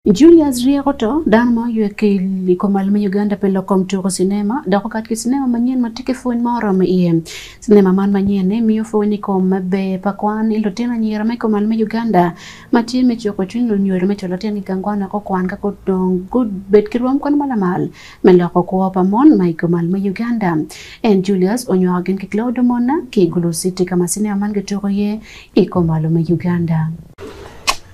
Julius Rieko to, dano ma oywe ki i kom al me Uganda pi lok kom tuku cinema dok okat ki cinema manyen ma tye ki pwony ma oromo iye. Cinema man manyen-ni miyo pwony i kom me ber pa kwan i lutino anyira ma i kom al me Uganda ma tye me cuko cwiny lunyodo me cwalo tyengi i gang kwan wek gukwan ka gudong gubed ki rwom kwan ma lamal me loko kwo pa mon ma i kom al me Uganda. En, Julius, onywako gin ki Claudio Monna ki i Gulu City ka ma cinema man kituko iye i kom al me Uganda.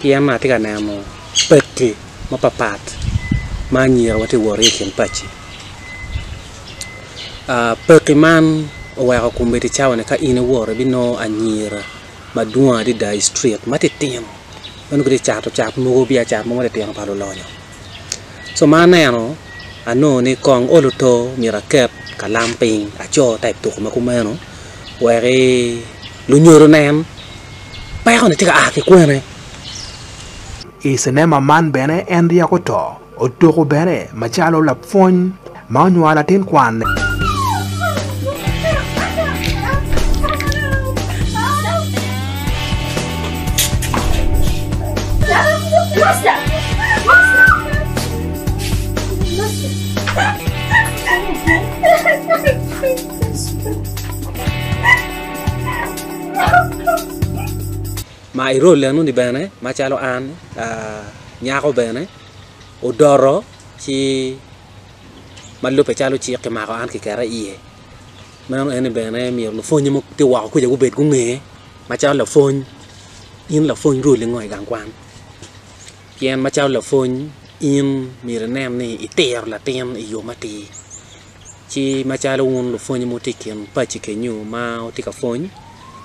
pien atye ka neno paki mapapat ma anyira tye ka wot ki i kin paki paki man oweko kombeddi cawa ni ka in iwoto ibinongo anyira madwong adada i street matitino ma nongo gitye ka cato cat mogo biacara mogo matitino pa lulonyo so ma aneno anongo ni kong olo oto myero aket kalam piny aco type tuko ma kumeno wek lunyodo onen. Peko-ni tye ka a ki kwene? I cinema man bene en ryeko to otuko bene macalo lapwony ma onywalo latin kwanne. Ma i role eno ni bene macalo an nyako bene odoto ci ma lubbe calo cik ki mako an ki keta iye meno en ni bene myero lupwonye ma tye woko kuca gubed gunge macalo lapwony in lapwony roli ngo i gang kwan pien macalo lapwony in myero inen ni itiro latin i yo matir ci macalo wun lupwony ma wutye i kin paci kenyu ma wutye ka pwony,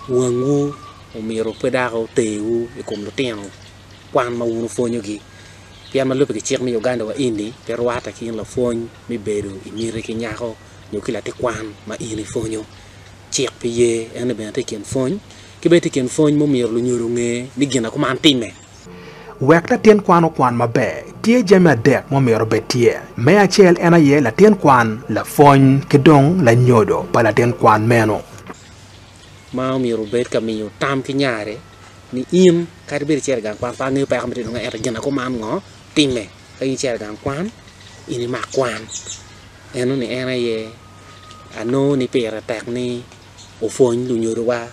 wangwu omyero pe dok oterwu i kom lutino kwan ma wun wupwonyogi. Pien ma lubbe ki cik me Uganda wa eni pe rwatte ki in lapwony me bedo i miti ki nyako nyo ki latin kwan ma in ipwonyo. Cik pe ye en ni bene tye i kin pwony. Ki bene tye i kin pwony ma omyero lunyodo onge ni gin ma kuman timme. Wek latin kwan okwan maber, tye jami adek ma omyero obed tye. Me acel en aye latin kwan, lapwony, ki dong lanyodo pa latin kwan meno. Ma omyero obed ka miyo tam ki nyare ni in kadi bed icito i gang kwan pe angeyo peko ma itye dong ento gin akuman ngo time ka in icito i gang kwan in imak kwan. Enoni en aye anongo ni pire tek ni opwony lunyodowa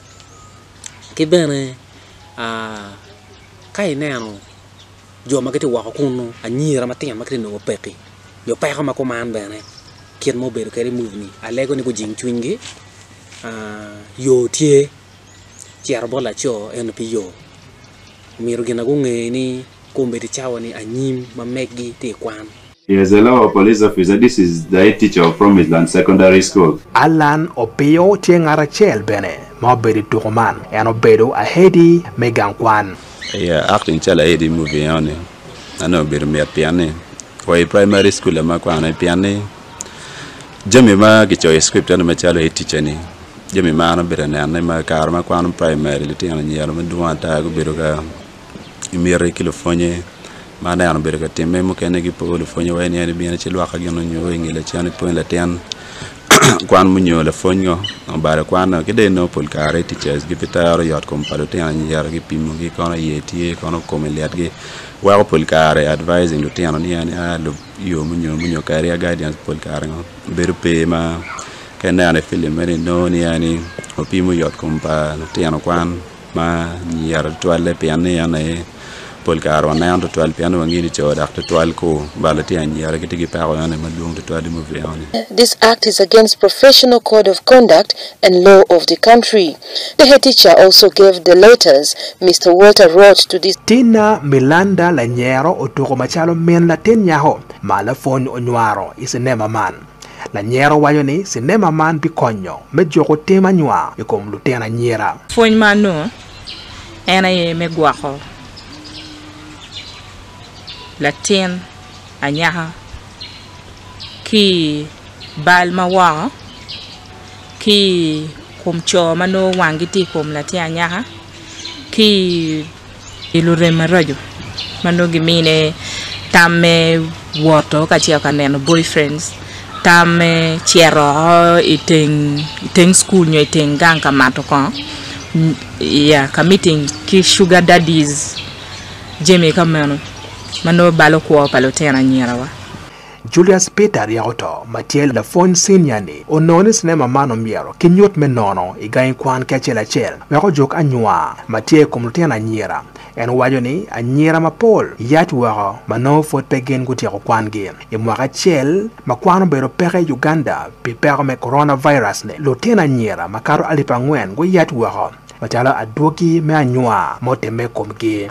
ki bene ka ineno jo ma gitye woko kunu anyira matino ma gitye ka nongo pekki nyo peko ma kuman bene kit ma obedo kwede i muvi-ni alego ni gujing cwinygi yo tye cito bot laco ento pe yo myero gin ma gunge ni komedi cawa ni anyim ma megi tye ka kwan. She is a local police officer. This is the head teacher of Promised Land Secondary School. Allan Opio tye ngat acel bene ma obedo i tuko man. En obedo ahedi me gang kwan. Aye acting calo ahedi me movie eno ni ma nongo obedo mit pien ni wa i primary school ma akwano aye pien ni jami ma kicoyo i script eno macalo head teacher ni jami ma an abedo ka nene ma kare ma akwano primary litino anyira madwong ata gubedo ka i miti ki lupwonye ma aneno obedo ka timme mukene gipo lupwonye wa eni ibino ci lwokke gin onyo i nge lacen ipwony latin kwan munyo lapwony ngo obalo kwan o ki dong inongo pol kare i ticaji gi bitero yot kom pa lutino anyira gipimogi kono iye tye kono kome litgi weko pol kare advising lutino ni en a lub yo munyo munyo kadi guidance pol kare ngo bedo pe ma ka ineno i film eni inongo ni en ni opimo yot kom pa lutino kwan ma niyero tutwalle pien ni en aye pol kare waneno tutwal pien ni wangeyo ni co dok tutwal ku balo tye anyira gitye ki peko eno aye madwong tutwal i muvi eno-ni. This act is against professional code of conduct and law of the country. The head teacher also gave the letters Mister Walter wrote to the. Tina Milanda lanyero otuko macalo min latin nyako ma lapwony onywaro i cinema man. Lanyero waco ni cinema man bikonyo me juko tim anywa i kom lutino anyira. Pwony ma anongo en aye me gwoko latin anyaka ki i bal ma woko, ki i kom co ma nongo wangi tye i kom latin anyaka, ki i. pi lurem maraco ma nongo gimine tam me woto kacel ka neno boyfriends, tam me cito i teng cukul nyo i teng gang ka mato kongo, iya ka meeting ki sugar daddies jami ka meno ma nongo balo kwo pa lutino anyirawa. Julius Peter Aryakuto ma tye lapwony cinia-ni onongo ni cinema man omyero kinyut me nono i gangi kwan ki acel acel wek ojuk anywa ma tye i kom lutino anyira. En waco ni anyira mapol yac woko ma nongo pwod pe gin gutyeko kwangi. I mwaka acel ma kwan obedo peke i Uganda pi peko me coronavirus-ni, lutino anyira makato alip angwen guyac woko macalo adwogi me anywa ma otimme i komgi.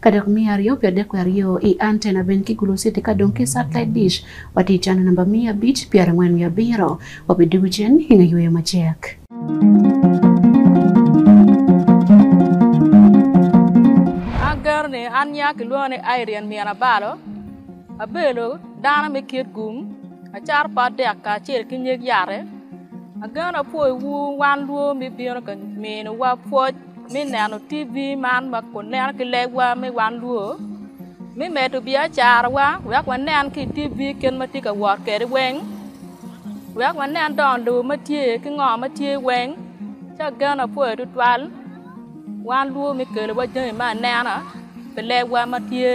Ka dok miyo aryo pi adek wiye aryo i antena bene ki gulo citi ka dong ki satellite dish wa ti cano namba miya abic pyera angwen wiye abiro wa pi dugu cen i nge yweyo macek. An geno ni an nya ki lwongo ni Irene Mian Abalo, abelo dano me kit gung, acaro pa adek kacel ki nyig yate. Ageno apwoyo wu wan lwo mi bino ka mino wa pwoc. mi neno TV man ma kun neno ki legwa me wan lwo, mi medo biacarawa wek wanen ki i TV kit ma tye ka wot kwede weng, wek wanen dong lobo ma tye ki ngo ma tye weng. Ci ageno apoyo tutwal wan lwo me kelowa jami me anena pi lebwa ma tye,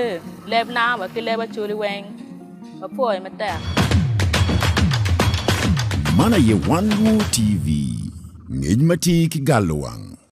leb langa wa ki leb Acholi weng. Apoyo matek. Man aye Wan Lwoo TV, ngec ma tye ki galo wang.